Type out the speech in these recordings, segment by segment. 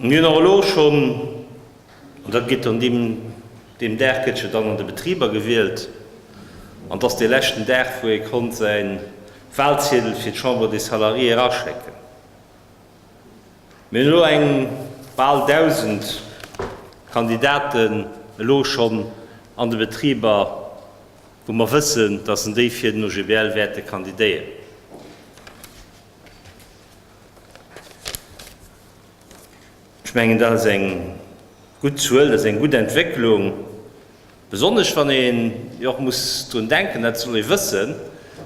Mir hunn och elo schonn, an dat gétt dann deem deem Dag gëtt jo dann an de Betriber gewielt, an dat ass dee leschten Dag wou ee konnt säi Walziedel fir d'Chambre des Salariés eraschécken, mir hunn elo eng bal 1.000 Kandidaten elo schonn an de Betriber, wou mer wëssen, datt en déi fir den OGBL wäerte kandidéieren. Ech mengen, dat ass eng gutt Zuel, dat ass eng gutt Entwécklung, besonnesch wann een jo och muss drun denken, dat soll ee wëssen,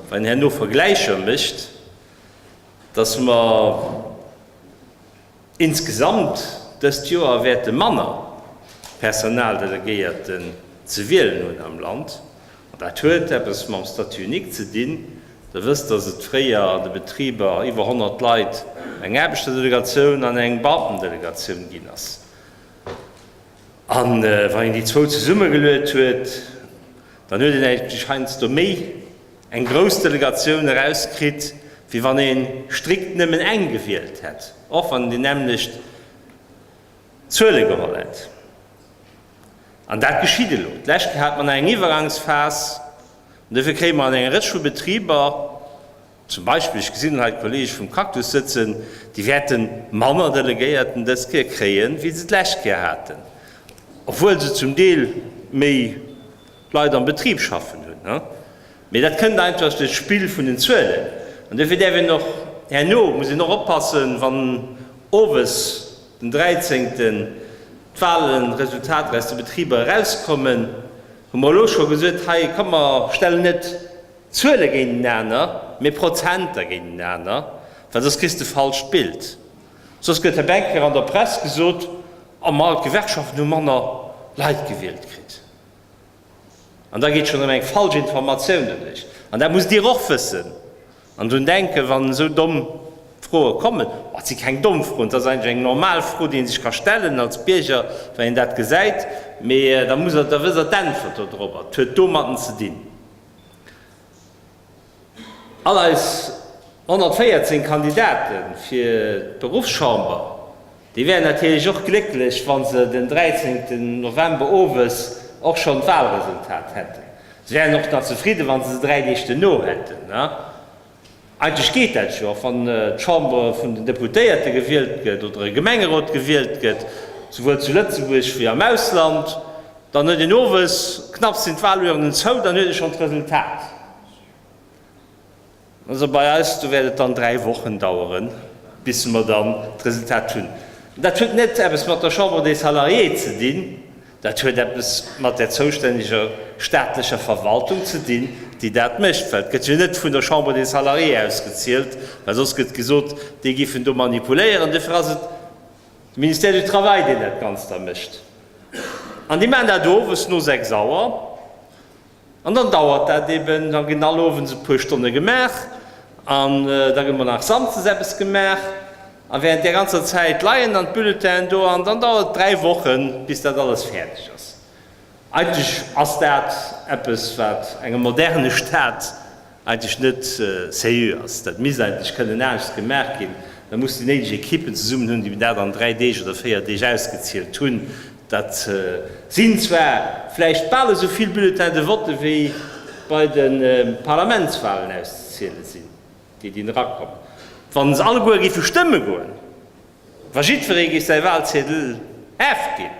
wann een herno Vergläicher mécht, dass mer insgesamt dëst Joer wäerte manner Personaldelegéierten ze wielen hunn am Land, Dat huet eppes mam Statut unique ze dinn. Der wësst, dass et fréier an de Betriber iwwer 100 Leit, eng Aarbechterdelegatioun an eng Beamtendelegatioun ginn ass. A wann een déi zwou zesummegeluet huet, dann huet een eigentlech heiansdo méi eng grouss Delegatioun erauskritt, wéi wann ee strikt nëmmen eng gewielt hätt, och wann déi nämmlecht Zuele geholl hätt. An dat geschitt elo. D'lescht Kéier hat mer nach eng Iwwergangsphas. An dofir kréie mer an enger Rëtsch vu Betriber, zum Beispill, ech gesinn hei d'Kollege vum Cactus sëtzen, déi wäerte manner Delegéierten dës Kéier kréie wéi se d'lescht Kéier haten, obwuel se zum Deel méi Leit am Betrib schaffen hunn. Mee dat kënnt einfach duerch d'Spill vun den Zuelen. An dofir däerf een och herno, muss een och oppassen, wann owes Den 13 d'Wahlen Resultater aus de Betriber erauskommen, hu mer elo scho gesot, hei komm mer stellen net Zuele géintenaner, mee Prozenter géintenaner, well soss kriss de falscht Bild. Soss gëtt hei eng Kéier an der Press gesot, oh mar d'Gewerkschaften hu manner Leit gewielt kritt. An da geet schonn erëm eng falsch Informatioun ewech. An dat musst Dir och wëssen an drun denken, wann esou domm Froe kommen. Et si keng domm Froen, et ass eigentlech eng normal Fro, déi ee sech ka stellen als Bierger, wa een dat gesäit. Mee da muss Der, da wësst Der d'Äntwert do drop. Et huet domatten ze dinn. All eis 114 Kandidate fir d'Beruffschamber, déi wären natierlech och glécklech, wa se den 13 November owes och schonn d'Walresultat hätten. Se wären och da zefridde wa se se dräi Deeg duerno hätten. Eigentlech geet dat jo, och wann d'Chamber vun den Deputéierte gewielt gëtt oder e Gemengerot gewielt gëtt, souwuel zu Lëtzebuerg wéi am Ausland. Dann huet een owes, knapps sinn d'Walurnen zou, dann huet ee schonn d'Resultat. Also bei eis do wäert et dann dräi Wochen daueren, bis mer dann d'Resultat hunn. Dat huet net eppes mat der Chambre des Salariés ze dinn, dat huet eppes mat där zoustänneger staatlecher Verwaltung ze dinn, déi dat mécht, well et gëtt jo net vun der Chambre des Salariés aus gezielt, well soss gëtt gesot, déi giffen do manipuléieren. Dofir ass et De Ministère du Travail, deen dat Ganzt da mécht. An déi maachen dat owes no sechs Auer. An dann dauert dat eben. Da ginn all owends e puer Stonne gemaach. An da gëtt mol nach samsdes eppes gemaach. A während där ganzer Zäit leien dann d'Bulletinen do. An dann dauert et dräi Wochen, bis dat alles fäerdeg ass. Eigentlech ass dat eppes, wat engem moderne Staat eigentlech net sérieux ass. Dat misst eigentlech kënnen anescht gemaach ginn. Da muss déi néideg Ekippen zesummen hunn, déi mir dat an dräi Deeg oder véier Deeg ausgezielt hunn. Dat sinn zwar vläicht bal esou vill Bulletins de vote wéi bei de Parlamentswalen auszeziele sinn, déi dinn erakommen. Wa se alleguer géife stëmme goen, Wa jiddweree géif säi Walziedel afginn,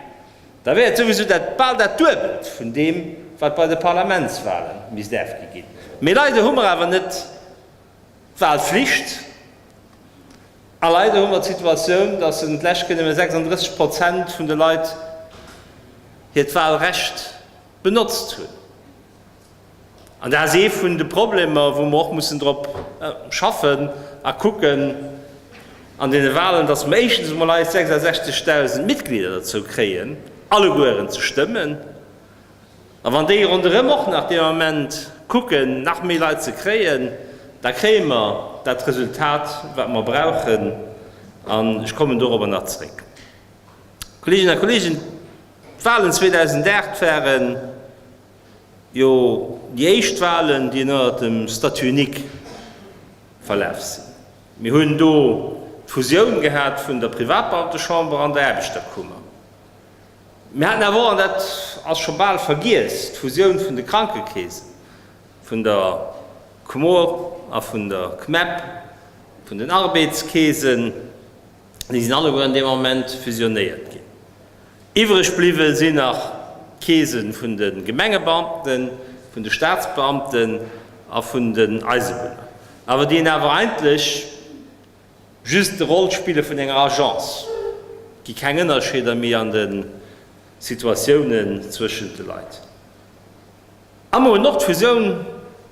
da wär et souwisou dat bal dat Duebelt vun deem, wat bei de Parlamentswale misst afgi ginn. Mee leider hu mer awer net d'Walflicht a leider hu mer d'Situatioun, dass en d'lescht Kéier nëmme 36 Prozent vun de Leit hiert Walrecht benotzt hunn. An dat ass ee vun de Problemer, wou mer och mussen drop schaffen a kucken an deene Wahlen, dass mer éischtens emol eis 66.000 Mitglieder dozou kréien, allegueren ze stëmmen. A wann déi ronderëm och nach deen Ament kucken, nach méi Leit ze kréien, da kréie mer dat Resultat, wat mer brauchen. An ech kommen dorobber nach zréck. Kolleeginnen a Kolleegen, d'Wahlen 2008 waren, Jo, déi éischt Wahlen, déi ënnert dem Statut unique verlaf sinn. Mir hunn do d'Fusioun gehat vun der Privatbeamtechamber an der Aarbechterkummer. Mir haten awer och, an dat ass scho bal vergiess, d'Fusioun vun de Krankekeesen, vun der Comore a vun der Cmeb, vun den Arbeitskeesen. Déi sinn alleguer an deem Ament fusionéiert ginn. Iwwreg bliwwe sinn nach d'Keese vun de Gemengebeamten, vun de Staatsbeamten a vun den Eisebunner, awer déi awer eigentlech just d'Roll spille vun enger Agence. Et gi keng Ënnerscheeder méi an de Situatiounen zwëschent de Leit. A mer hunn och d'Fusioun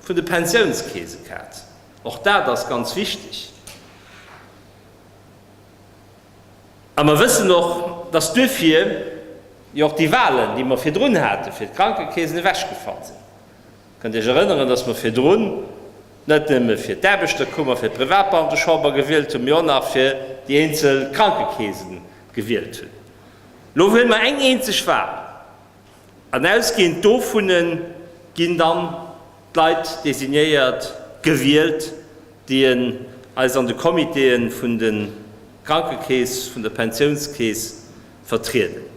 vun de Pensiounskeese gehad. Och dat ass ganz wichteg. A mer wëssen och, dass duerfir jo och déi Wahlen, déi mer virdrun haten, fir d'Krankekeesen ewechgefall sinn. Kënnt Iech erënneren, dass mer virdrun net nëmme fir d'Aarbechterkummer, fir d'Privatbeamtechamber gewielt hunn, mee och nach fir déi eenzel Krankekeesen gewielt hunn. Elo wëlle mer eng eenzeg Wahl. An ausgehend dovunne ginn dann d'Leit designéiert, gewielt, déi en eis an de Comitéë vun de Krankekeess, vun der Pensiounskeess vertrieden.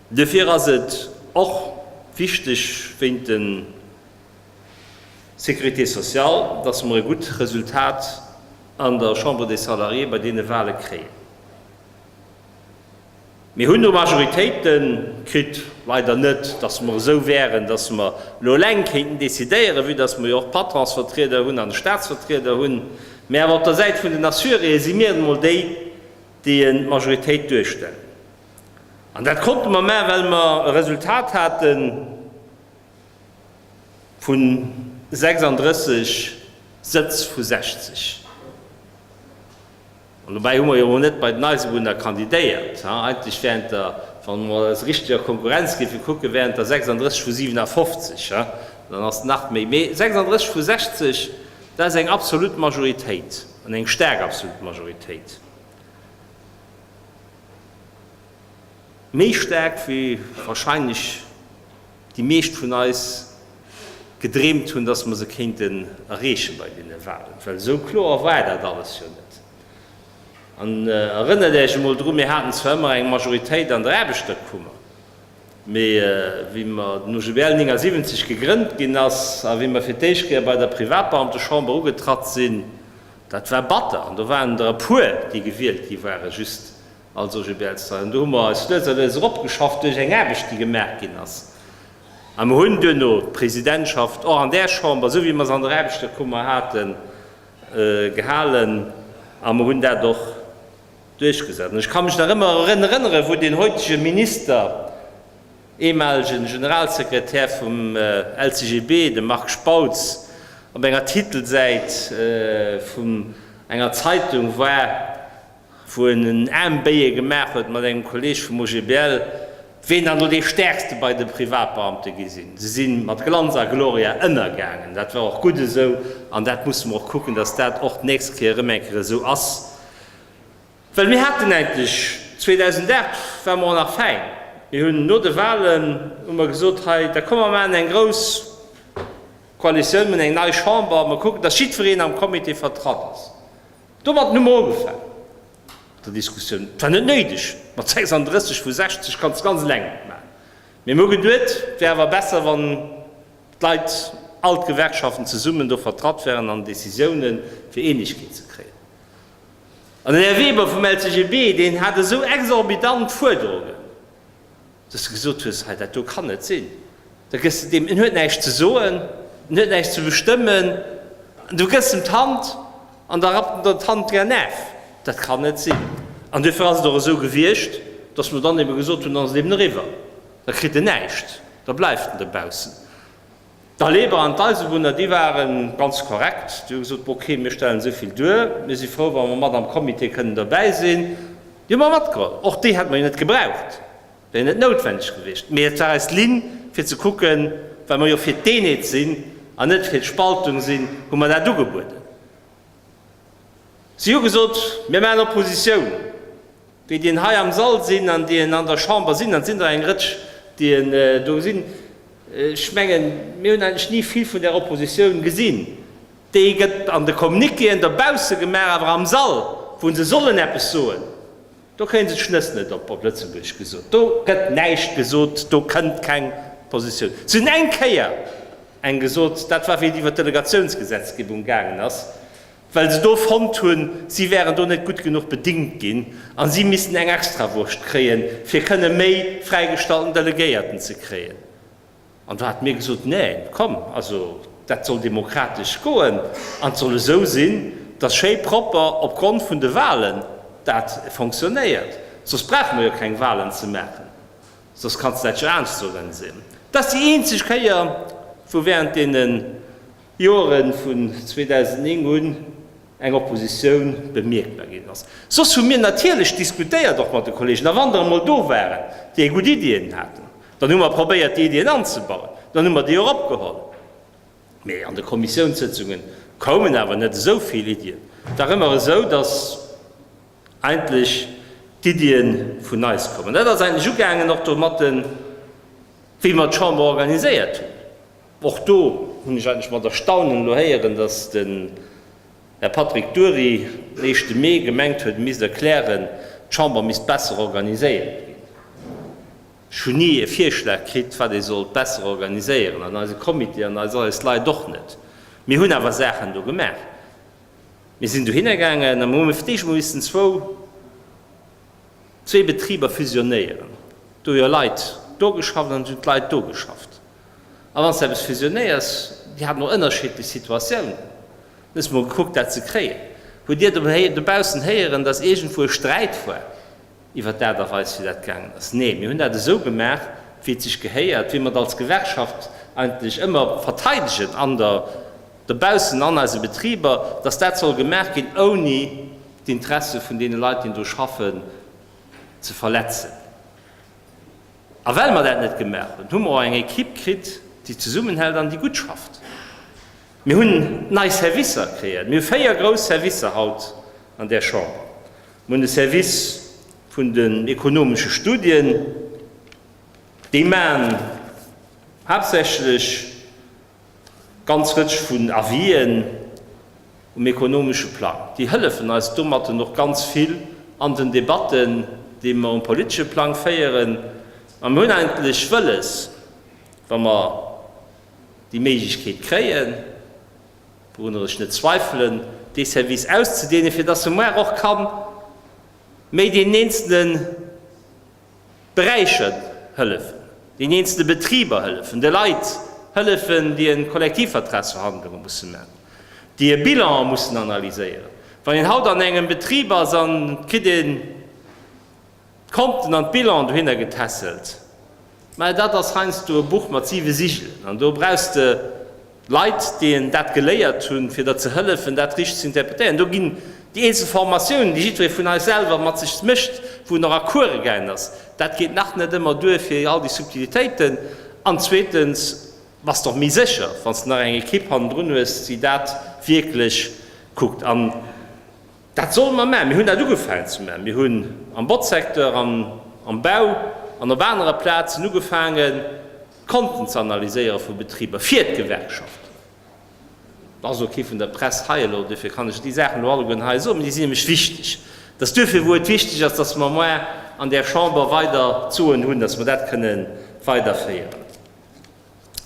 Duerfir ass et och wichteg wéint der Sécurité sociale, dass mer e gutt Resultat an der Chambre des Salariés bei deene Wahle kréien. Mir hunn do Majoritéite kritt. Leider net, datt mer esou wäeren, datt mer elo eleng kéinten decidéieren, vue datt mer jo och Patronsvertrieder hunn an e Statsvertrieder hunn. Mä awer op der Säit vun den Assuréeë si mir emol déi, déi d'Majoritéit duerstellen. An dat konnte mer maachen, well mer e Resultat hate vu 36 Sëtz vu 60. An dobäi hu mer jo emol net bei den Eisebunner kandidéiert. Eigentlech während der, wann mer eis richteg a Konkurrenz géife kucken, während der 36 vu 57, dann ass nach méi, mee 36 vu 60, dat ass eng absolut Majoritéit an eng staark absolut Majoritéit, méi staark wéi wahrscheinlech. déi meescht vun eis gedreemt hunn, dass mer se kéinten erreechen bei deene Wahlen, well esou kloer war dat alles jo net. An erënnert Äech emol drun, mir haten zwar ëmmer eng Majoritéit an der Aarbechterkummer, mee wéi mer den OGBL 79 gegrënnt ginn ass a wéi mer fir d'éischt Kéier bei der Privatbeamtechamber ugetratt sinn, dat war batter. An do waren der e puer, déi gewielt gi ware just Also Gilbertzer, an do hu mer eis lues a lues eropgeschafft duerch eng Aarbecht, déi gemaach ginn ass. A mer hunn duerno d'Presidentschaft och an där Chamber, esou wéi mer se an der Aarbechterkummer haten, gehalen a mer hunn dat och duerchgesat. An ech ka mech nach ëmmer erën erënneren, wou deen heutegen Minister, eemalegen Generalsekretär vum LCGB, de Marc Spautz, op enger Titelsäit vun enger Zeitung war, wou en en Aembéie gemaach huet mat engem Kolleeg vum OGBL, ween dann do dee Stäerkste bei de Privatbeamte gi sinn. Se si mat Glanz a Gloria ënnergaangen. Dat war och gutt esou an dat musse mer och kucken, dass dat och d'nächst Kéier erëm eng Kéier esou ass, well mir haten eigentlech 2008 war mer och nach fäin. Mir hunn no de Wahlen hu mer gesot, hei da komm mer maachen eng grouss Koalitioun, mir hunn eng nei Chamber, mer kucken, dass jiddwereen am Comité vertratt ass. Domatten hu mer ugefaangen mat der Diskussioun. Et war net néideg, mat 36 vu 60 kanns de ganz eleng net maachen. Mee mir hu geduet, et wär awer besser, wann d'Leit, all d'Gewerkschaften zesummen do vertratt wären an Décisiounen, fir Eenegkeet ze kréien. An den Här Weber vum LCGB, deen hat esou exorbitant Fuerderungen. Dass de gesot hues, hei dat do kann net sinn. Da gëss de deem, en huet näischt ze soen, en huet näischt ze bestëmmen, an du gëss em d'Hand an da rappt en der d'Hand dra naf. Dat kann net sinn. An duerfir ass et och esou gewiescht, dass mer dann ebe gesot hunn, dann ass et eben eriwwer, da kritt en näischt, da bleift en dobaussen. D'Aleber an d'Eisewunner, déi ware ganz korrekt. Déi hu gesot, ok, mir stellen esou vill duer, mir si frou, wa mer mat am Comité kënnen dobäi sinn. Déi hu mer matgeholl. Och déi hätte mer jo net gebraucht, wär jo net noutwendeg gewiescht. Mee et war eis Linn, fir ze kucken, well mer jo fir d'Eenheet sinn an net fir d'Spaltung sinn, hu mer dat ugebueden. Si hu gesot, Mir maachen Oppositioun. Déi, déi hei am Sall sinn an déi an der Chamber sinn, an et sinn der eng Rëtsch, déi do sinn, ech mengen, mir hunn eigentlech ni vill vun där Oppositioun gesinn. Déi gëtt an de Communiquéen dobausse gemaach, awer am Sall, wou se sollen eppes soen, Do kréien se d'Schnëss net op, op Lëtzebuergesch gesot. Do gëtt näischt gesot, do kënnt keng Positioun. Se hunn eng Kéier eng gesot, dat war wéi et iwwer d'Delegatiounsgesetzgebung gaangen ass, well se do fonnt hunn, si wären do net gutt genuch bedingt ginn a si missten eng Extrawurscht kréien, fir kënne méi fräigestallten Delegéierten ze kréien. An do hate mir gesot, Neen, komm, also dat soll demokratesch goen an et soll esou sinn, dass schéi propper opgrond vun de Wahlen dat fonctionnéiert. Soss brauche mer jo keng Wahlen ze maachen, soss kann et näischt anescht sorengsinn. Dat ass déi eenzeg Kéier, wou während deenen Joeren vun 2009 un eng Oppositioun bemierkbar ginn ass. Soss hu mir natierlech diskutéiert, och mat de Kolleegen, a wann der emol do waren, déi gutt Iddien haten, dann hu mer probéiert, déi Iddien anzebauen, dann hu mer déi och opgeholl. Mee an de Kommissiounssëtzunge koumen awer net esou vill Iddien. Et war ëmmer esou, datt eigentlech d'Iddie vun eis koumen. Dat ass eigentlech ugaangen och domatten, wéi mer d'Chamber organiséiert hunn. Och do hunn ech eigentlech mat Erstaunen elo héieren, dass den Här Patrick Dury den éischte Mee gemengt huet, e misst erklären, d'Chamber misst besser organiséiert ginn. Ech hunn ni e Virschlag kritt, wat ee sollt besser organiséieren, an eise Comité an eis eis Leit och net. Mir hunn awer Saachen do gemaach. Mir sinn dohinner gaangen a mir hu fir d'éischt emol missen zwou, zwee Betriber fusionéieren. Do hu jo Leit do geschafft an et hunn d'Leit do geschafft. A wann s de eppes fusionéiers, Dir hat emol ënnerschiddlech Situatiounen, hunn ech emol gekuckt, dat ze kréien, hutt Dir dobaussen héieren, datt iergendwou e Sträit war iwwer d'Aart a Weis, wéi dat gaangen ass? Nee, mir hunn dat esou gemaach, wéi et sech gehéiert, wéi mer et als Gewerkschaft eigentlech ëmmer verteidegen an der, dobaussen an eise Betriber, datt dat soll gemaach ginn, ouni d'Interesse vun deene Leit, déi do schaffen, ze verletzen. A well mer dat net gemaach hunn, hu mer och eng Ekipp kritt, déi zesummenhält an déi gutt schafft. Mir hunn nei Servicer kreéiert. Mir hu véier grouss Servicer haut an där Chamber. Mir hunn de Service vun den ekonomesche Studien, déi maachen haaptsächlech, Ganz Rëtsch vun Avisen um ekonomesche Plang, déi hëllefen eis domatten och ganz vill an den Debatten, déi mer um politesche Plang féieren. A mer hunn eigentlech wëlles, wa mer déi Méiglechkeet kréien, wourunner ech net zweifelen, dee Service auszedeenen, fir datt e muer och ka méi deen eenzele. Beräicher hëllefen, den eenzelne Betriber hëllefen, de Leit hëllefen, déi en Kollektivvertragsverhandlungen mussen man, déi e Bilan mussen analyséieren. Wann een haut an engem Betrib ass an et kritt een d'Konten an d'Bilanen dohinner getässelt, mä dat ass heiansdo e Buch mat siwe Sigelen an do brauchs de, Leit, déi een dat geléiert hunn, fir der ze hëllefen, dat richteg ze interpretéieren. Do ginn déi eenzel Formatiounen, déi jiddweree vun eis selwer mat sech mécht, wou en och a Course gaangen ass, dat geet nach net ëmmer duer, fir all déi Subtilitéiten. An zweetens bass de och méi sécher, wann s de nach eng Ekipp hannendrun hues, déi dat wierklech kuckt. An. Dat solle mer maachen. Mir hunn dat ugefaangen ze maachen. Mir hunn am Botzsecteur an am Bau an op anere Plazen ugefaangen, d'Konten ze analyséiere vu Betriber fir d'Gewerkschaften. Et ass ok vun der Press hei elo, duerfir kann ech déi Saachen elo alleguerten hei soen, mä déi sinn nämlech wichteg. Et ass duerfir, wou et wichteg ass, dass mer moi an där Chamber weider d'Soen hunn, dass mer dat kënnen weiderféieren.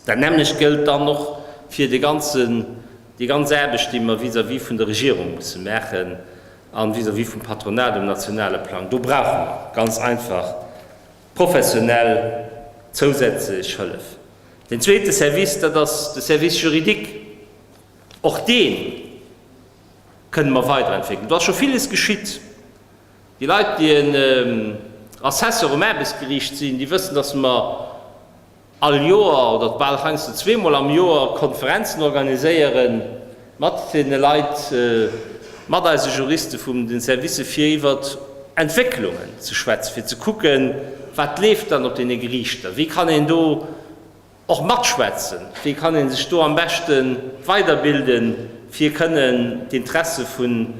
Dat nämmlecht gëllt dann och fir de ganzen, déi ganz Aarbecht, déi mer vis-à-vis vun der Regierung musse maachen a vis-à-vis vum Patronat um nationale Plang. Do brauche mer ganz einfach professionell zousätzlech Hëllef. Deen zweete Service, dat ass de Service juridique. Och dee kënnen mer weiderentwéckelen. Do ass scho viles geschitt. Déi Leit, déi en Assessor um Aarbechtsgericht sinn, déi wëssen, dass mer, all Joer oder bal heiansdo zweemol am Joer Konferenzen organiséiere mat deene Leit, mat eise Juriste vum den Servicë fir iwwer Entwécklungen ze schwätzen, fir ze kucken, wat leeft dann op deene Geriichter, wéi kann een do och matschwätzen, wéi kann ee sech do am beschte weiderbilden, fir kënnen d'Interesse vun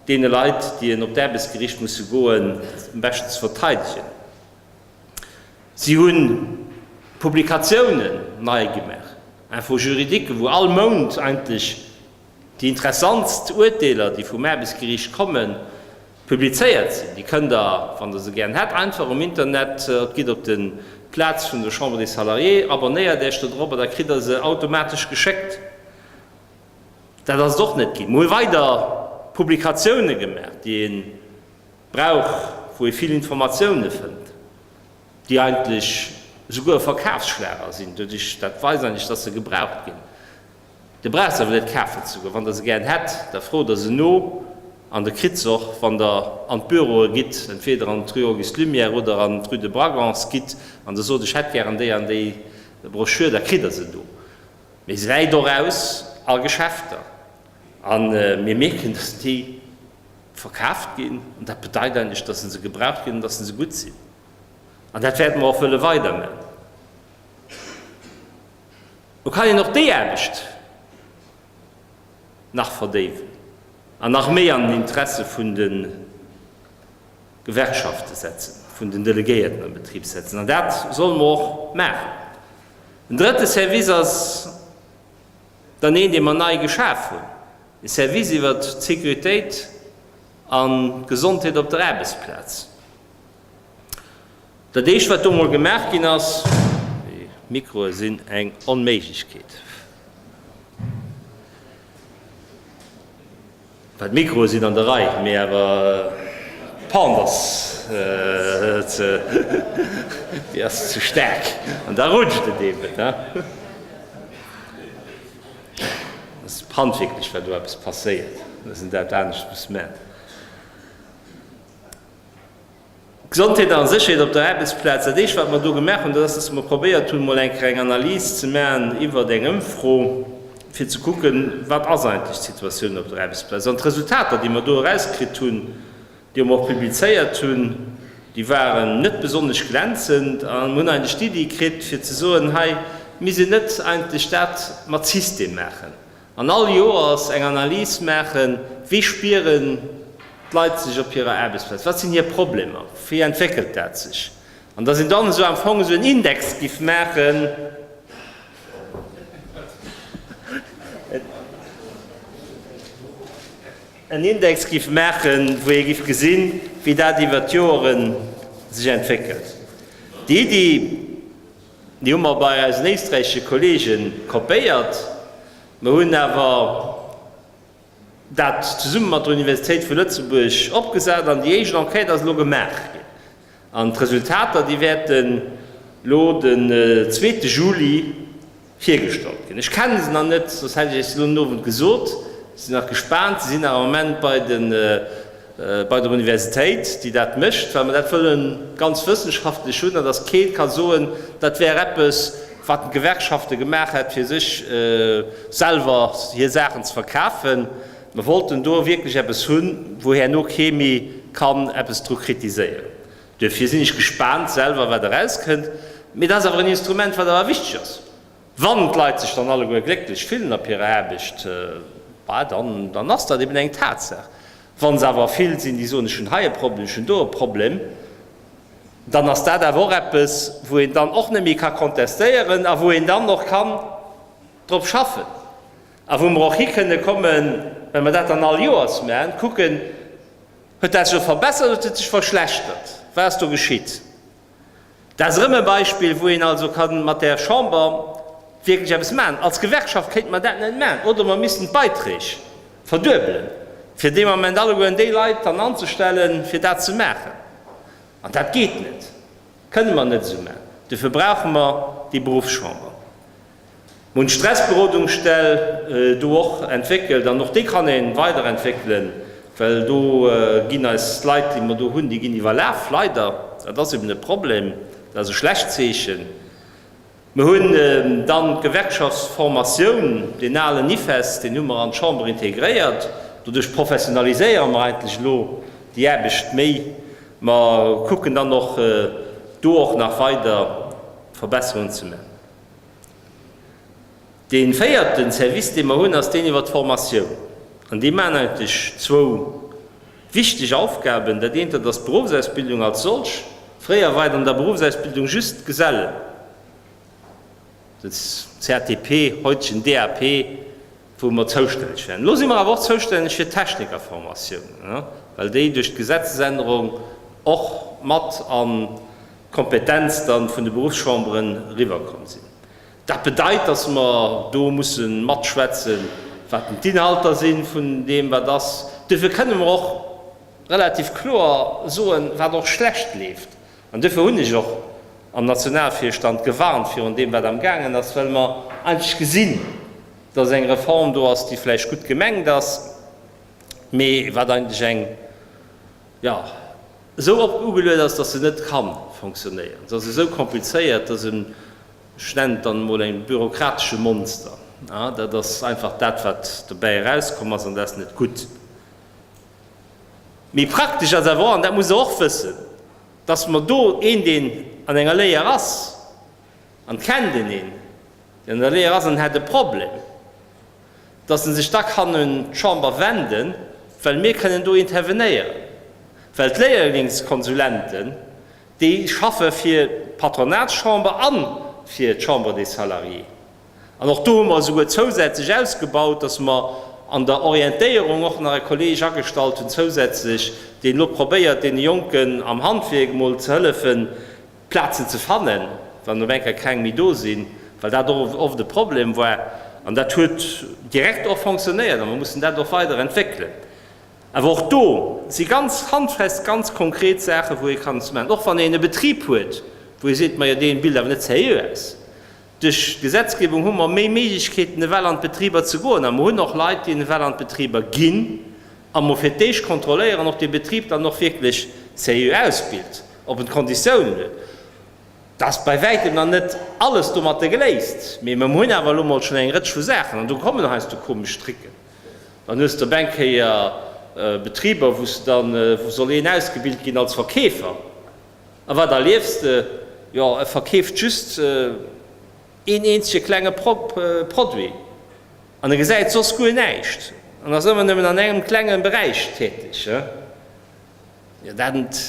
deene Leit, déi en op d'Aarbechtsgericht musse goen, am beschten ze verteidegen. Si hunn d'Publikatiounen nei gemaach, Info juridique, wou all Mount eigentlech déi interessantst Uerteeler, déi vum Aarbechtsgeriicht kommen, publizéiert sinn. Déi kënnt Der, wann Der se gären hätt, einfach um Internet, gitt op de Plaz vun der Chambre des Salariés, abonnéiert Iech do drop a da kritt Der se automatesch geschéckt. Dat ass et och net ginn. Mir hu weider Publikatiounen gemaach, déi een Brauch, wou ee vill Informatioune fënnt, déi eigentlech esouguer e Verkafsschlager sinn doduerch, dat weist eigentlech, dass se gebraucht ginn. Der braucht se awer net kafen ze goen. Wann Der se gären hätt, da frot Der se no an Der kritt se och. Wann Der an d'Büroe gitt, entweeder an d'Rue Auguste Lumière oder an d'Rue de Bragance gitt an Der sot, ech hätt gären déi an déi Broschür, da kritt Der se do. Mee se läit och aus a Geschäfter a mir mierken, dass déi. Verkaaft ginn. An dat bedeit eigentlech, dass se se gebraucht ginn an dass se se gutt sinn. An dat wäerte mer och wëlle weiderman. Lo kann een och déi Aarbecht nach verdéiwen an nach méi an den Interesse vun de Gewerkschaften setzen, vun den Delegéierten am Betrib setzen. An dat solle mer och maachen. En drëtte Service ass dann een, dee mer nei geschaf hunn. E Service iwwer d'Sécuritéit an d'Gesondheet op der Aarbechtsplaz. Dat éischt, wat do mol gemaach ginn ass, déi Mikroe sinn eng Onméiglechkeet, well d'Mikroe sinn an der Rei, mee awer d'Pente ass ze, déi ass ze staark an da rutscht et eeben. Ass handwierklech war do eppes passéiert, dass en dat anescht muss man. Gesondheet a Sécherheet op der Aarbechtsplaz, dat éischt wat mer do gemaach hunn, dat ass, dass mer probéiert hunn, mol eng kleng Analys ze maachen iwwert eng Ëmfro, fir ze kucken, wat ass eigentlech d'Situatioun op der Aarbechtsplaz. An d'Resultater, déi mer do erauskritt hunn, déi mer och publizéiert hunn, déi waren net besonnesch glänzend a mir hunn eigentlech d'Iddi kritt fir ze soen, hei misst een net eigentlech dat mat System maachen an all Joers eng Analys maachen, wéi spieren d'Leit sech op hirer Aarbechtsplaz, wat sinn hir Problemer, wéi entwéckelt dat sech an datt een dann esou am Fong esou en Index giff maachen. en Index giff maachen, wou ee giff gesinn, wéi dat iwwert d'Joeren sech entwéckelt. Déi Iddi, déi hu mer bei eisen éisträichesche Kollegen kopéiert. Mer hunn awer dat zesummen mat der Universitéit vu Lëtzebuerg opgesat an déi éischt Enquête ass elo gemaach ginn. An d'Resultater, déi wäerten elo den zweete Juli virgestallt ginn. Ech kenne se nach net, soss hätt ech Iech se elo den Owend gesot. Ech sinn nach gespaant. Se sinn awer am Moment bei de, bei der Universitéit, déi dat mécht, well mer dat wëlle ganz wëssenschaftlech hunn, an dass kee ka soen, dat wär eppes, wat d'Gewerkschafte gemaach hätt, fir sech selwer hir Saachen ze verkafen. Mer wollten do wierklech eppes hunn, wou herno kee méi kann eppes dru kritiséieren. Duerfir sinn ech gespaant selwer, wat erauskënnt. Mee dat ass awer en Instrument, wat awer wichteg ass. Wann d'Leit sech dann alleguer glécklech fillen op hirer Aarbecht, bah, dann ass dat eben eng Tatsaach. Wa se awer vill sinn, déi soen, ech hunn hei e Problem, ech hunn do e Problem, dann ass dat awer och eppes, wou een dann och net méi ka kontestéieren a wou een dann och kann drop schaffen. A wou mer och hi kënne kommen, well mer dat dann all Joers maachen, kucken, Huet dat sech verbessert oder huet et sech verschlechtert? Wat ass do geschitt? Dat ass erëm e Beispill, wou een also ka mat der Chamber wierklech eppes maachen. Als Gewerkschaft kéinte mer dat net maachen. Oder mer missten d'Beiträg verduebelen, fir dee Moment allegueren déi Leit dann anzestellen, fir dat ze maachen. An dat geet net, kënne mer net esou maachen. Dofir brauche mer déi Beruffschamber. Mir hunn d'Stressberodungsstell do och entwéckelt an och déi kann een weiderentwéckelen, well do ginn eis d'Leit, déi mer do hunn, déi ginn iwwerlaf, leider. Dat ass eben e Problem, dat ass e schlecht Zeechen. Mir hunn dann d'Gewerkschaftsformatioun, deen alen IFEST, deen hu mer an d'Chamber integréiert. Doduerch professionaliséiere mer eigentlech elo déi Aarbecht méi. Mer kucken dann och do och nach weider Verbesserungen ze man. Dee véierten Service, dee mer hunn, ass deen iwwert d'Formatioun. An déi maachen eigentlech zwou wichteg Aufgaben. Dat eent, dat ass d'Beruffsausbildung als solch. Fréier war et an der Beruffsausbildung just d'Gesellen, den CATP, haitegen DAP, wou mer zoustänneg wären. Elo si mer awer och zoustänneg fir d'Technikerformatiounen, well déi duerch d'Gesetzesännerung och mat an d'Kompetenz da vun de Beruffschamberen eriwwerkomm sinn. Dat bedeit, dass mer do musse matschwätzen, wat denn d'Inhalter si vun deem, wat ass. Duerfir kënnen mer och relativ kloer soen, wat och schlecht leeft An duerfir hunn ech och am Nationalvirstand gewarnt virun deem, wat amgaangen ass, well mer eigentlech gesinn, dass eng Reform do ass, déi vläicht gutt gemengt ass, mee wat eigentlech eng, jo, esou op ugeluet ass, dass se net ka fonctionnéieren. Se ass esou komplizéiert, dass en, ech nennen et dann emol e bürokratesche Monster, dat ass einfach dat, wat dobäi erauskomm ass, an dat ass net gutt. Mee praktesch ass awer och, an dat muss Der och wëssen, dass mer do een, deen an enger Léier ass, an d'kennt een een, deen an der Léier ass an en hätt e Problem, dass en sech da kann un d'Chamber wenden, well mir kënnen do intervenéieren, well d'Léierlingskonsulenten, déi schaffe fir d'Patronatschamber an fir d'Chambre des Salariés. An och do hu mer esouguer zousätzlech ausgebaut, dass mer an der Orientéierung och nach e Kolleg agestallt hunn zousätzlech, deen elo probéiert deene Jonken am Handwierk emol ze hëllefen Plazen ze fannen, wann op eng Kéier keng méi do sinn, well dat och oft e Problem war. An dat huet direkt och fonctionnéiert a mer mussen dat och weider entwéckelen. Awer och do si ganz handfest, ganz konkret Saachen, wou ee kann ze maachen, och wann een e Betrib huet, wou ee seet, majo deen bilt awer net sérieux aus. Duerch d'Gesetzgebung hu mer méi Méiglechkeeten, ewell an d'Betriber ze goen. A mer hunn och Leit, déi ewell an d'Betriber ginn a mer fir d'éischt kontrolléieren, ob dee Betrib dann och wierklech sérieux ausbilt, ob en d'Konditiounen huet. Dat ass bei wäitem nach net alles domatter geléist, mee mer hunn awer elo mol schonn eng Rëtsch vu Saachen. An do kommen heiansdo komesch Tricken. Dann hues de op eng Kéier Betriber, wou s de dann, wou soll een ausgebilt ginn als Verkeefer, A wat erliefs de? Jo, e verkeeft just een eenzege klenge Produit an e gesäit soss guer näischt an ass ëmmer nëmmen an engem klenge Beräich täteg. Jo, dat ent,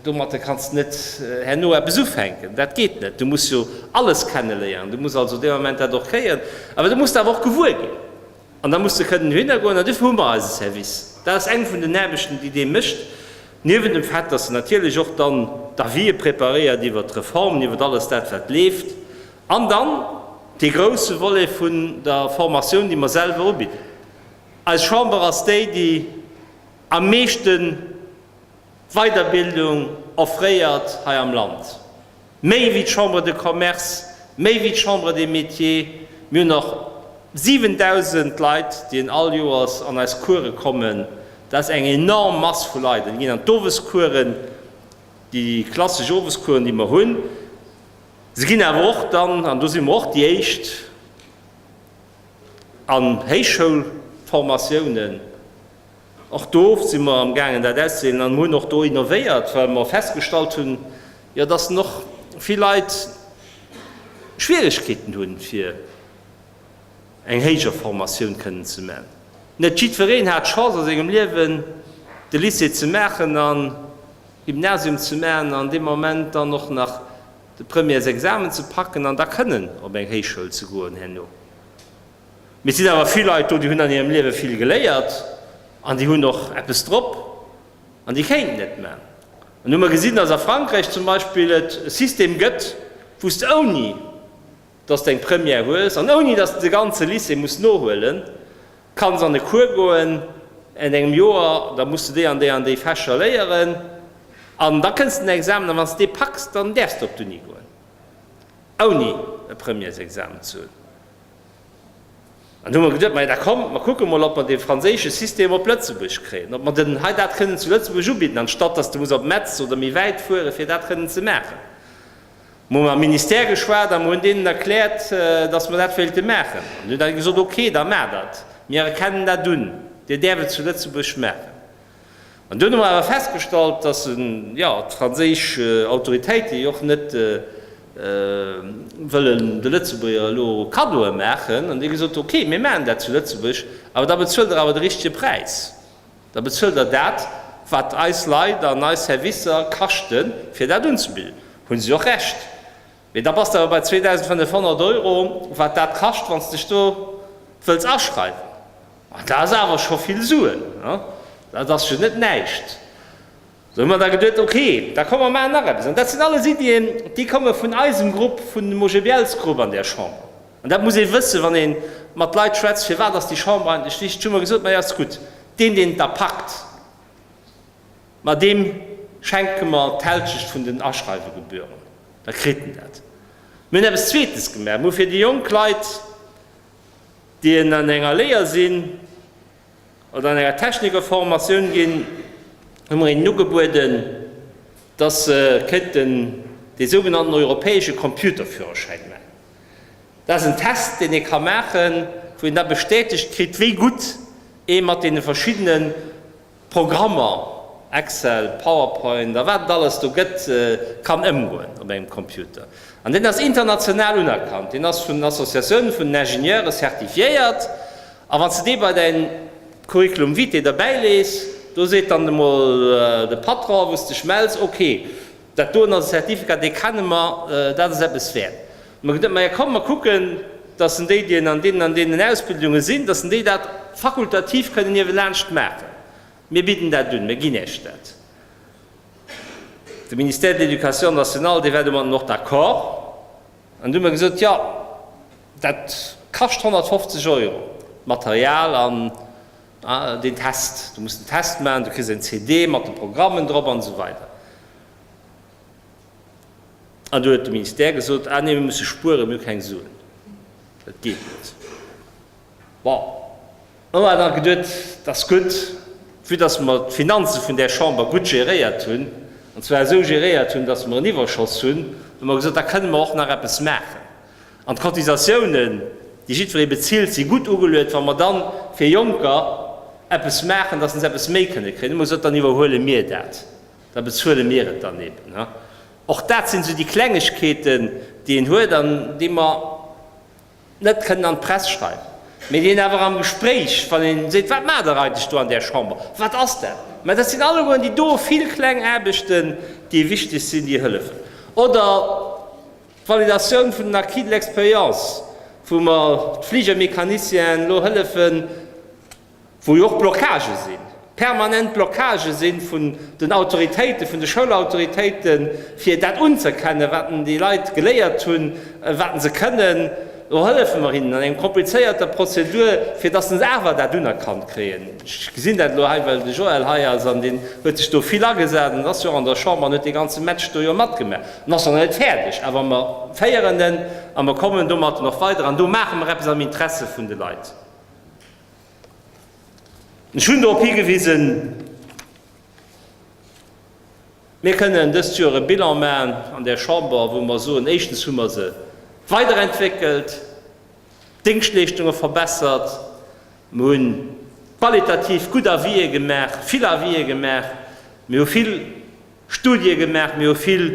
domatter kanns de net herno eppes ufänken. Dat geet net. Du muss jo alles kenneléieren. Du muss also dee Moment dat och kréien. Awer du muss der awer och gewuer ginn, An da muss de kënnen dohinner goen. An duerfir hu mer eise Service. Dat ass eng vun den Aarbechten, déi dee mécht. Niewent dem Fait, dass en natierlech och dann d'Avisë preparéiert iwwert d'Reformen, iwwert alles dat, wat leeft. An dann dee grouse Volet vun der Formatioun, déi mer selwer ubidden. Eis Chamber ass déi, déi am meeschten. Weiderbildung offréiert hei am Land méi wéi d'Chambre de Commerce, méi wéi d'Chambre des Métiers. Mir hunn och 7.000 Leit, déi all Joers an eis Course kommen. Dat ass eng enorm Mass vu Leit. Déi ginn an d'Owescoursen, déi klassesch Owescoursen, déi mer hunn. Se ginn awer och dann, an do si mer och déi Éischt, an Héichschoulformatiounen. Och do si mer am gaangen dat auszedeelen an mer hunn och do innovéiert, well mer festgestallt hunn, jo dass den och vill Leit Schwieregkeeten hunn fir eng héijer Formatioun kënnen ze man. Net jiddwereen hat d'Chance a sengem Liewen de Lycée ze maachen an Gymnasium ze man an dee Moment dann och nach de Premièresexamen ze packen an da kënnen op eng Héichschoul ze goen herno. Mee et sinn awer vill Leit do, déi hunn an hirem Liewe vill geléiert an déi hunn och eppes drop an déi kéinten et man. An hu mer gesinn, dass a Frankräich zum Beispill et e System gëtt, wou s de ouni dass de eng Première hues an ouni dass de de ganze Lycée muss nohuelen, kanns an e Cours goen an engem Joer, da muss de déi an déi an déi Fächer léieren an da kënns de en Examen an wann s de dee packs, dann däerfs de op d'Uni goen, ouni e Premièresexamen ze hunn. An du hu mer geduet, maja da kommt, mer kucke mol, ob mer dee franséische System op Lëtzebuerg kréien, ob mer den hei dat kënnen zu Lëtzebuerg ubidden, anstatt dass du muss op Metz oder méi wäit fuere fir dat kënnen ze maachen. Mer hu mam Ministère geschwat a mer hunn deenen erkläert, dass mer dat wéilte maachen. An dunn hu se gesot, ok, da maacht dat, mir erkennen dat un, Dir däerft et zu Lëtzebuerg maachen. An dunn hu mer awer festgestallt, dass jo d'franséisch Autoritéite jo och net wëllen de Lëtzebuerger elo Kaddoe maachen. An déi hu gesot, ok, mir maachen dat zu Lëtzebuerg, awer da bezuelt der awer de richtige Präis, da bezuelt der dat, wat eis Leit an eis Servicer kaschten, fir dat unzebidden. Hu si och Recht. Mee da bass de awer bei 2.500 Euro, wat dat kascht, wann s dech do wëlls aschreiwen. Ma dat ass awer scho vill Suen, dat ass jo net näischt. Da hu mer da geduet, ok, da komm mer maachen nach eppes. An dat sinn alles Iddien, déi komme vun eisem Grupp, vun dem OGBL-s-Grupp an där Chamber. An dat muss ee wëssen, wann ee mat Leit schwätzt, firwat ass déi Chamber eigentlech wichteg. Hu mer gesot, majo, ass gutt, deen, deen et da packt. Ma deem schenke mer d'Hälschecht vun den Aschreiwegebühren, da kritt en dat. Mir hunn eppes Zweetes gemaach, Mir hu fir déi jonk Leit, déi en an enger Léier sinn oder an enger Technikerformatioun ginn, hu mer hinnen ugebueden, dass se kënnten dee sougenannten europäesche Computerführerschäin maachen. Dat ass en Test, deen ee ka maachen, wou een da bestätegt kritt, wéi gutt ee mat deene verschiddene Programmer, Excel, Powerpoint a wat et alles do gëtt, kann ëmgoen op engem Computer. An deen ass international unerkannt, deen ass vun Associatioune vun den Ingenieure certifiéiert. A wann s de dee bei däin Curriculum vitae derbäilees, do seet dann emol de Patron, wou s dech mells, ok, Dat doen als Certificat, dee kenne mer, dat ass eppes wäert. Mer gëtt net, ma jo, komm, mer kucken, dass en déi, déi an deenen an deenen Ausbildunge sinn, dass en déi dat fakultativ kënnen niewelaanscht maachen. Mir bidden dat un, mir ginn Iech dat. De Ministère de l'Éducation nationale, dee war domatten och d'accord. An du hu mer gesot, jo, dat kascht 150 Euro, d'Material an. Ah, deen Test. Du muss den Test maachen, du kriss eng CD mat de Programmen drop an esou weider. An du huet de Ministère gesot, ah nee, mir musse spueren, mir hu keng Suen, dat geet net. Bon, elo hat hatt geduet, et ass gutt, vue dass mer d'Finanze vun där Chamber gutt geréiert hunn, an zwar esou geréiert hunn, dass mer en Iwwerschoss hunn, hu mer gesot, da kënne mer och nach eppes maachen. An d'Cotisatiounen, déi jiddweree bezilt, si gutt ugeluet. Wa mer dann fir Jonker eppes maachen, dass se eppes méi kënne kréien, hu mer gesot, dann iwwerhuele mir dat, da bezuele mir et dann eben. Och dat sinn esou déi Klengegkeeten, déi een huet an déi mer net kënnen an d'Press schreiwen, mä déi een awer am Gespréich, wann een seet, wat maacht Der eigentlech do an där Chamber, wat ass dat? Mä dat sinn allegueren déi do vill kleng Aarbechten, déi wichteg sinn, déi hëllefen. Oder D'Validatioun vun den Acquis de l'expérience, wou mer d'Fligermécaniciens elo hëllefen, wou jo och Blockagë sinn, permanent Blockagë si vun den Autoritéiten, vun de Schoulautoritéiten, fir dat unzëerkennen, wat déi Leit geléiert hunn, wat se kënnen. Do hëllefe mer hinnen an enger komplizéierter Prozedur, fir dass se awer dat unerkannt kréien. Ech gesinn dat elo hei, well de Joël hei ass an deen huet sech do vill agesat an ass jo och an der Chamber an huet dee ganze Match do jo matgemaach an ass och nach net fäerdeg. Awer mer féieren en a mer kommen domatten och weider an do maache mer eppes am Interesse vun de Leit. Ech hunn dorop higewisen, Mir kënnen dëst Joer e Bilan maachen an der Chamber, wou mer soen, éischtens hu mer se weiderentwéckelt, d'Déngschtleeschtunge verbessert, mer hu qualitativ gutt Avisé gemaach, vill Avisé gemaach, mir hu vill Studië gemaach, mir hu vill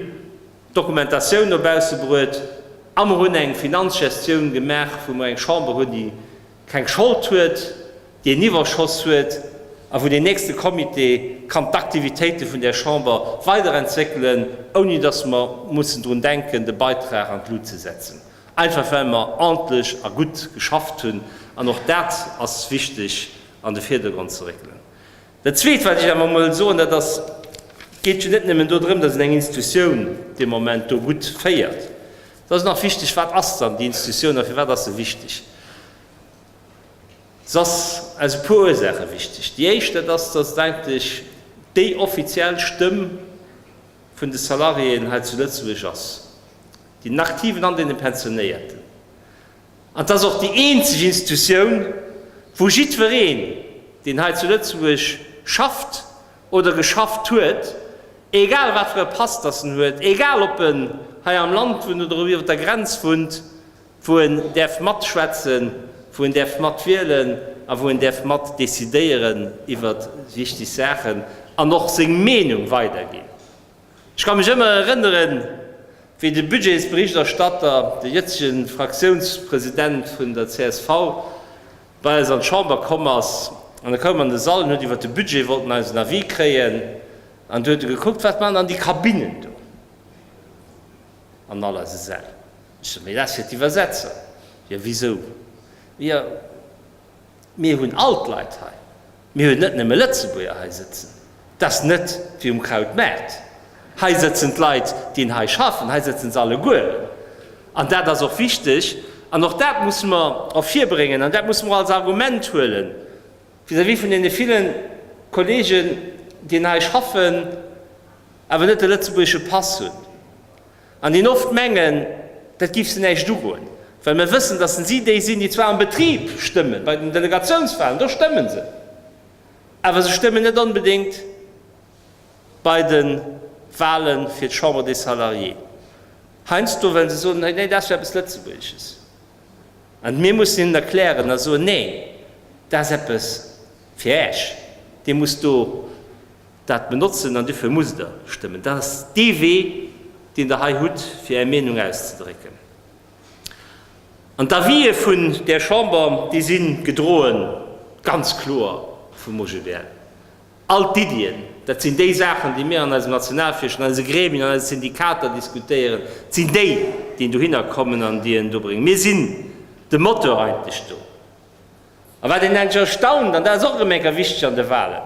Dokumentatioun no bausse bruet a mer hunn eng Finanzgestioun gemaach, wou mer eng Chamber hunn, déi keng Schold huet, déi en Iwwerschoss huet a wou deen nächste Comité kann d'Aktivitéite vun där Chamber weiderentwéckelen, ouni dass mer mussen drun denken, de Beitrag an d'Lut ze setzen, einfach well mer ordntlech a gutt geschafft hunn. An och dat ass wichteg an de Virdergrond ze réckelen. Dat Zweet, wat ech awer emol soen, dat ass, Et geet jo net nëmmen dodrëm, dass een eng Institutioun dee Moment do gutt féiert. Et ass nach wichteg, Wat ass dann déi Institutioun a firwat ass se wichteg? Se ass aus e puer Ursaache wichteg. Déi éischt, dat ass, dass et eigentlech déi offiziell Stëmm vun de Salariéen hei zu Lëtzebuerg ass, den Aktiven an deene Pensionéierten. An 't ass och déi eenzeg Institutioun, wou jiddwereen, deen hei zu Lëtzebuerg schafft oder geschafft huet, egal wat fir e Pass datt en huet, egal ob en hei am Land wunnt oder ob en iwwer der Grenz wunnt, wou en däerf matschwätzen, wou en däerf matwielen a wou en däerf mat decidéieren iwwer wichteg Saachen an och seng Meenung weiderginn. Ech ka mech ëmmer erënneren, wéi de Budgetsberichterstatter, de jëtzege Fraktiounspresident vun der csv, bei eis an d'Chamber komm ass. An e koum an de Sall an huet iwwer de Budget wollt en eisen Avis kréien. An du huet e gekuckt, Wat maachen dann déi Kabinnen do an all eise Säll? Ech sou, Mee dat ass fir d'Iwwersetzer. Jo, wisou? Jo. Mir hunn all d'Leit hei. Mir hunn net nëmme Lëtzebuerger hei sëtzen. Dat ass net wéi um Krautmaart. Hei sëtzen d'Leit, déi hei schaffen. Hei sëtzen se allegueren. An dat ass och wichteg. An och dat musse mer ervirbréngen an dat musse mer och als Argument huele vis-à-vis vun deene ville Kolleegen, déi hei schaffen, awer net de lëtzebuergesche Pass hunn. An déi oft mengen, dat géif se näischt ugoen, well mer wëssen, dass si déi sinn, déi zwar am Betrib stëmmen, bei den Delegatiounswahlen, do stëmmen se, awer se stëmmen net onbedéngt bei de Wahle fir d'Chambre des Salariés heiansdo, well se soen, nee, dat ass jo eppes Lëtzebuergesches. An mir mussen hinnen erklären a soen, nee, dat ass eppes, Fir Äech. Dir musst do dat benotzen an dofir musst Der stëmmen. Dat ass dee Wee, deen Der hei hutt, fir Är Meenung auszedrécken. An d'Avisë vun där Chamber, déi si gedroe ganz kloer vum OGBL. All d'Iddien, dat sinn déi Saachen, déi mir an eisem Nationalvirstand, an eise Gremien, an eise Syndikater diskutéieren, et sinn déi, déi dohinner kommen an déi en dobréngen. Mir sinn de Moteur eigentlech do. A wat een enk erstaunt, an dat ass och erëm eng Kéier wichteg an de Wahlen,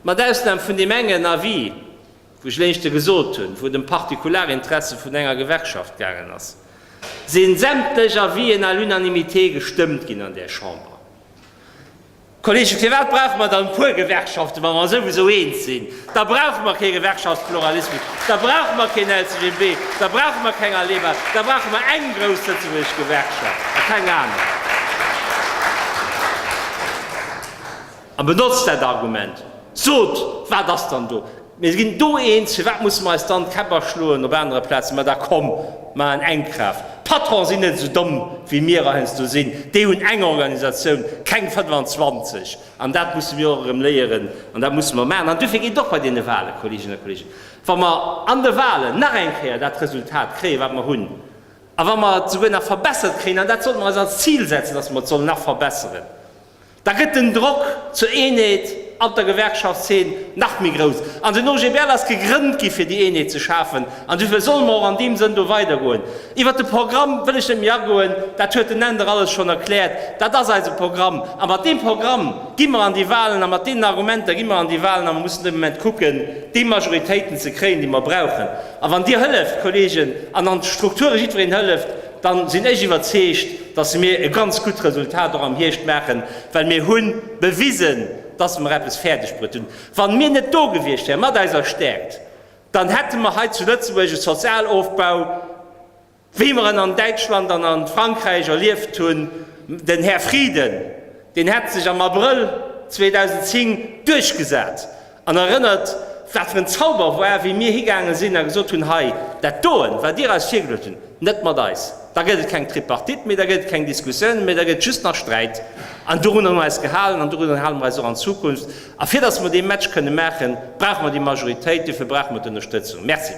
mat Ausnam vun deem engen Avis, wou ech léichte gesot hunn, wou et ëm Partikularinteresse vun enger Gewerkschaft gaangen ass, si sämtlech Avisen à l'unanimité gestëmmt ginn an där Chamber. Kollegen, firwat brauche mer dann e puer Gewerkschaften, wa mer souwisou eens sinn? Da brauche mer kee Gewerkschaftspluralismus, da brauche mer keen LCGB, da brauche mer keng ALEBA, da brauche mer eng grouss lëtzebuergesch Gewerkschaft a keng aner. A benotzt dat Argument, sot, Wat ass dann do? Mir ginn do eens, firwat musse mer eis dann d'Käpp aschloen op anere Plazen? Ma da komm, mar en eng Kraaft! D'Patronen sinn net esou domm wéi mir er heiansdo sinn, déi hunn eng Organisatioun, keng 25! An dat musse mir och erëm léieren an dat musse mer maachen. An duerfir geet et och bei deene Wahlen, Kolleeginnen a Kolleegen, wa mer an de Wahlen nach eng Kéier dat Resultat kréien, wat mer hunn, a wa mer et esouguer nach verbessert kréien, an dat sollte mer eis als Zil setzen, dass mer et sollen nach verbesseren, Da gëtt den Drock zur Eenheet an der Gewerkschaftszeen nach méi grouss. An den OGBL ass gegrënnt gi fir déi Eenheet ze schafen. An duerfir solle mer och an deem Sënn do weidergoen. Iwwert de Programm wëll ech net méi agoen, dat huet den Änder alles schonn erkläert. Dat ass eise Programm. A mat deem Programm gi mer an déi Wahlen a mat deenen Argumenter gi mer an déi Wahlen. A mer mussen de Moment kucken, déi Majoritéiten ze kréien, déi mer brauchen. A wann Dir hëlleft, Kolleegen, an an d'Strukture jiddwereen hëlleft, dann sinn ech iwwerzeegt, dass mir e ganz gutt Resultat och am Hierscht maachen, well mir hu bewisen, dass mer eppes fäerdegbruet hunn. Wann mir net do gewiescht wäeren mat eiser Stärkt, dann hätte mer hei zu Lëtzebuerg e Sozialofbau, wéi mer en an Däitschland an a Frankräich erlieft hunn. Den Här Frieden, deen hätt sech am Abrëll 2010 duerchgesat An erënnert, wat fir en Zauber war, wéi mir higaange sinn a gesot hunn, Hei, dat doen, wat Dir eis virgeluecht hunn, net mat eis. Da gëtt et keng Tripartite méi, da gëtt et keng Diskussioune méi, da gëtt et just nach Sträit. An dorunner hu mer eis gehalen an dorunner hale mer eis och an Zukunft. A fir datt mer dee Match kënne maachen, brauche mer déi Majoritéit, dofir brauche mer d'Ënnerstëtzung. Merci.